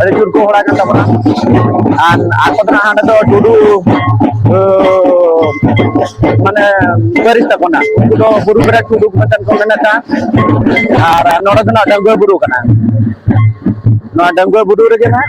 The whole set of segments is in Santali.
ᱟᱹᱰᱤ ᱡᱳᱨ ᱠᱚ ᱦᱚᱲᱟ ᱠᱟᱱ ᱛᱟᱵᱚᱱᱟ ᱟᱨ ᱟᱠᱚ ᱫᱚ ᱦᱟᱸᱰᱮ ᱫᱚ ᱴᱩᱰᱩ ᱢᱟᱱᱮ ᱯᱟᱹᱨᱤᱥ ᱛᱟᱠᱚ ᱱᱟᱜ ᱩᱱᱠᱩ ᱫᱚ ᱵᱩᱨᱩ ᱵᱮᱨᱟ ᱴᱩᱰᱩ ᱢᱮᱱᱛᱮ ᱠᱚ ᱢᱮᱱᱮᱫᱟ ᱟᱨ ᱱᱚᱰᱮ ᱫᱚ ᱱᱟᱜ ᱰᱟᱹᱝᱜᱩᱣᱟᱹ ᱵᱩᱨᱩ ᱠᱟᱱᱟ ᱱᱚᱣᱟ ᱰᱟᱹᱝᱜᱩᱣᱟᱹ ᱵᱩᱨᱩ ᱨᱮᱜᱮ ᱱᱟᱜ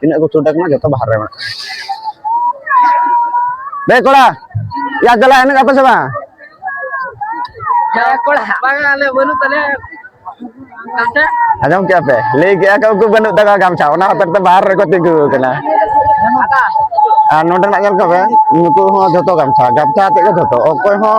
ᱛᱤᱱᱟᱹᱜ ᱠᱚ ᱪᱷᱩᱴ ᱟᱠᱟᱱᱟ ᱡᱚᱛᱚ ᱵᱟᱦᱨᱮ ᱢᱮᱱᱟᱜ ᱵᱮ ᱠᱚᱲᱟ ᱭᱟ ᱫᱟᱞᱟ ᱮᱱᱮᱡ ᱟᱯᱮ ᱥᱮ ᱵᱟᱝ ᱠᱚᱲᱟ ᱵᱟᱝ ᱟᱞᱮ ᱵᱟᱹᱱᱩᱜ ᱛᱟᱞᱮ ᱟᱸᱡᱚᱢ ᱠᱮᱜᱼᱟ ᱯᱮ ᱞᱟᱹᱭ ᱠᱮᱜᱼᱟ ᱠᱚ ᱩᱱᱠᱩ ᱵᱟᱹᱱᱩᱜ ᱛᱟᱠᱚᱣᱟ ᱜᱟᱢᱪᱷᱟ ᱚᱱᱟ ᱦᱚᱛᱮᱡ ᱛᱮ ᱵᱟᱦᱨᱮ ᱨᱮᱠᱚ ᱛᱤᱸᱜᱩ ᱟᱠᱟᱱᱟ ᱟᱨ ᱱᱚᱰᱮᱱᱟᱜ ᱧᱮᱞ ᱠᱚᱯᱮ ᱱᱩᱠᱩ ᱦᱚᱸ ᱡᱷᱚᱛᱚ ᱜᱟᱢᱪᱷᱟ ᱜᱟᱢᱪᱷᱟ ᱟᱛᱮᱫ ᱜᱮ ᱡᱷᱚᱛᱚ ᱚᱠᱚᱭ ᱦᱚᱸ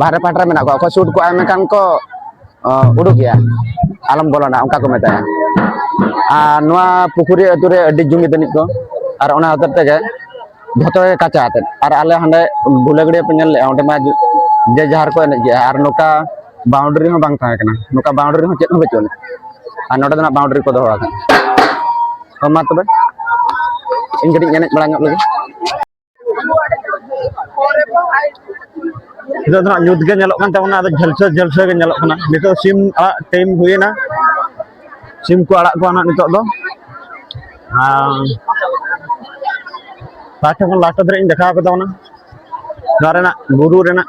ᱵᱟᱦᱨᱮ ᱯᱟᱦᱴᱟ ᱨᱮ ᱢᱮᱱᱟᱜ ᱠᱚᱣᱟ ᱚᱠᱚᱭ ᱥᱩᱴ ᱠᱚᱜᱼᱟ ᱢᱮᱱᱠᱷᱟᱱ ᱠᱚ ᱩᱰᱩᱠ ᱜᱮᱭᱟ ᱟᱞᱚᱢ ᱵᱚᱞᱚᱱᱟ ᱚᱱᱠᱟ ᱠᱚ ᱢᱮᱛᱟᱭᱟ ᱟᱨ ᱱᱚᱣᱟ ᱯᱩᱠᱷᱩᱨᱤ ᱟᱹᱛᱩ ᱨᱮ ᱟᱹᱰᱤ ᱡᱩᱢᱤᱫ ᱟᱹᱱᱤᱡ ᱠᱚ ᱟᱨ ᱚᱱᱟ ᱦᱚᱛᱮᱡ ᱛᱮᱜᱮ ᱡᱷᱚᱛᱚ ᱜᱮ ᱠᱟᱪᱟ ᱟᱛᱮᱫ ᱟᱨ ᱟᱞᱮ ᱦᱟᱸᱰᱮ ᱜᱩᱞᱟᱹᱜᱟᱹᱲᱤᱭᱟᱹ ᱯᱮ ᱧᱮᱞ ᱞᱮᱜᱼᱟ ᱚᱸᱰᱮ ᱢᱟ ᱡᱮ ᱡᱟᱦᱟᱨ ᱠᱚ ᱮᱱᱮᱡ ᱜᱮᱭᱟ ᱟᱨ ᱱᱚᱝᱠᱟ ᱵᱟᱣᱩᱱᱰᱟᱨᱤ ᱦᱚᱸ ᱵᱟᱝ ᱛᱟᱦᱮᱸ ᱠᱟᱱᱟ ᱱᱚᱝᱠᱟ ᱵᱟᱣᱩᱱᱰᱟᱨᱤ ᱦᱚᱸ ᱪᱮᱫ ᱦᱚᱸ ᱵᱟᱹᱪᱩᱜ ᱟᱹᱱᱤᱡ ᱟᱨ ᱱᱚᱰᱮ ᱫᱚ ᱱᱟᱜ ᱵᱟᱣᱩᱱᱰᱟᱨᱤ ᱠᱚ ᱫᱚᱦᱚ ᱟᱠᱟᱫᱟ ᱢᱟ ᱛᱚᱵᱮ ᱤᱧ ᱠᱟᱹᱴᱤᱡ ᱮᱱᱮᱡ ᱵᱟᱲᱟ ᱧᱚᱜ ᱞᱮᱜᱮ ᱱᱤᱛᱚᱜ ᱫᱚ ᱧᱩᱛ ᱜᱮ ᱧᱮᱞᱚᱜ ᱠᱟᱱ ᱛᱟᱵᱚᱱᱟ ᱟᱫᱚ ᱡᱷᱟᱞᱥᱟᱹ ᱡᱷᱟᱞᱥᱟᱹ ᱜᱮ ᱧᱮᱞᱚᱜ ᱠᱟᱱᱟ ᱱᱤᱛᱚᱜ ᱥᱤᱢ ᱟᱲᱟᱜ ᱴᱟᱭᱤᱢ ᱦᱩᱭᱮᱱᱟ ᱥᱤᱢ ᱠᱚ ᱟᱲᱟᱜ ᱠᱚᱣᱟ ᱱᱟᱜ ᱱᱤᱛᱚᱜ ᱫᱚ ᱞᱟᱦᱟ ᱴᱷᱮᱱ ᱠᱷᱚᱱ ᱞᱟᱦᱟ ᱫᱷᱟᱹᱨᱤᱡ ᱤᱧ ᱫᱮᱠᱷᱟᱣ ᱠᱟᱫᱟ ᱚᱱᱟ ᱱᱚᱣᱟ ᱨᱮᱱᱟᱜ ᱵᱩᱨᱩ ᱨᱮᱱᱟᱜ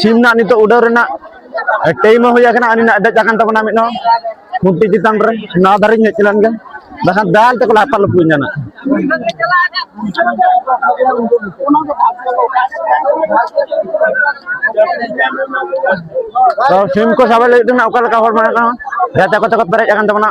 ᱥᱤᱢ ᱱᱟᱜ ᱱᱤᱛᱚᱜ ᱩᱰᱟᱹᱣ ᱨᱮᱱᱟᱜ ᱴᱟᱭᱤᱢ ᱦᱚᱸ ᱦᱩᱭ ᱟᱠᱟᱱᱟ ᱟᱹᱱᱤ ᱱᱟᱜ ᱫᱮᱡ ᱟᱠᱟᱱ ᱛᱟᱵᱚᱱᱟ ᱢᱤᱫ ᱦᱚᱸ ᱠᱷᱩᱱᱴᱤ ᱪᱮᱛᱟᱱ ᱨᱮ ᱱᱟᱣᱟ ᱫᱷᱟᱨᱮᱧ ᱦᱮᱡ ᱞᱮᱱ ᱜᱮ ᱵᱟᱠᱷᱟᱱ ᱫᱟᱞ ᱛᱮᱠᱚ ᱞᱟᱯᱟ ᱞᱩᱯᱩᱧᱟ ᱱᱟᱜ ᱛᱚ ᱥᱤᱢ ᱠᱚ ᱥᱟᱵ ᱞᱟᱹᱜᱤᱫ ᱛᱮ ᱚᱠᱟ ᱞᱮᱠᱟ ᱦᱚᱲ ᱢᱮᱱᱟᱜ ᱠᱚᱣᱟ ᱜᱟᱛᱮ ᱠᱚᱛᱮ ᱠᱚ ᱯᱮᱨᱮᱡ ᱟᱠᱟᱱ ᱛᱟᱵᱚᱱᱟ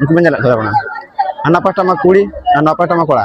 ᱩᱱᱠᱩ ᱵᱚᱱ ᱧᱮᱞᱮᱫ ᱠᱚᱣᱟ ᱦᱟᱱᱟ ᱯᱟᱦᱴᱟ ᱢᱟ ᱠᱩᱲᱤ ᱟᱨ ᱱᱚᱣᱟ ᱯᱟᱦᱴᱟ ᱢᱟ ᱠᱚᱲᱟ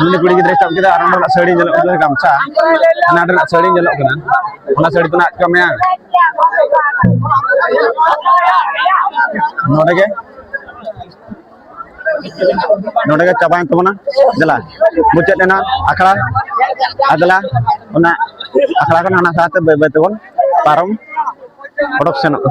ᱩᱱᱤ ᱠᱩᱲᱤ ᱜᱤᱫᱽᱨᱟᱹᱭ ᱥᱟᱵ ᱠᱮᱫᱟ ᱟᱨ ᱚᱱᱟ ᱨᱮᱱᱟᱜ ᱥᱟᱹᱲᱤ ᱧᱮᱞᱚᱜ ᱠᱟᱱᱟ ᱜᱟᱢᱪᱷᱟ ᱚᱱᱟ ᱨᱮᱱᱟᱜ ᱥᱟᱹᱲᱤ ᱧᱮᱞᱚᱜ ᱠᱟᱱᱟ ᱚᱱᱟ ᱥᱟᱹᱲᱤ ᱛᱮ ᱱᱟᱜ ᱟᱴᱠᱟᱣ ᱢᱮᱭᱟ ᱱᱚᱰᱮ ᱜᱮ ᱱᱚᱰᱮ ᱜᱮ ᱪᱟᱵᱟᱭᱮᱱ ᱛᱟᱵᱚᱱᱟ ᱫᱮᱞᱟ ᱢᱩᱪᱟᱹᱫ ᱮᱱᱟ ᱟᱠᱷᱲᱟ ᱟᱨ ᱫᱮᱞᱟ ᱚᱱᱟ ᱟᱠᱷᱲᱟ ᱠᱷᱚᱱ ᱦᱟᱱᱟ ᱥᱟᱦᱟᱛᱮ ᱵᱟᱹᱭ ᱵᱟᱹᱭ ᱛᱮᱵᱚᱱ ᱯᱟᱨᱚᱢ ᱚᱰᱚᱠ ᱥᱮᱱᱚᱜᱼᱟ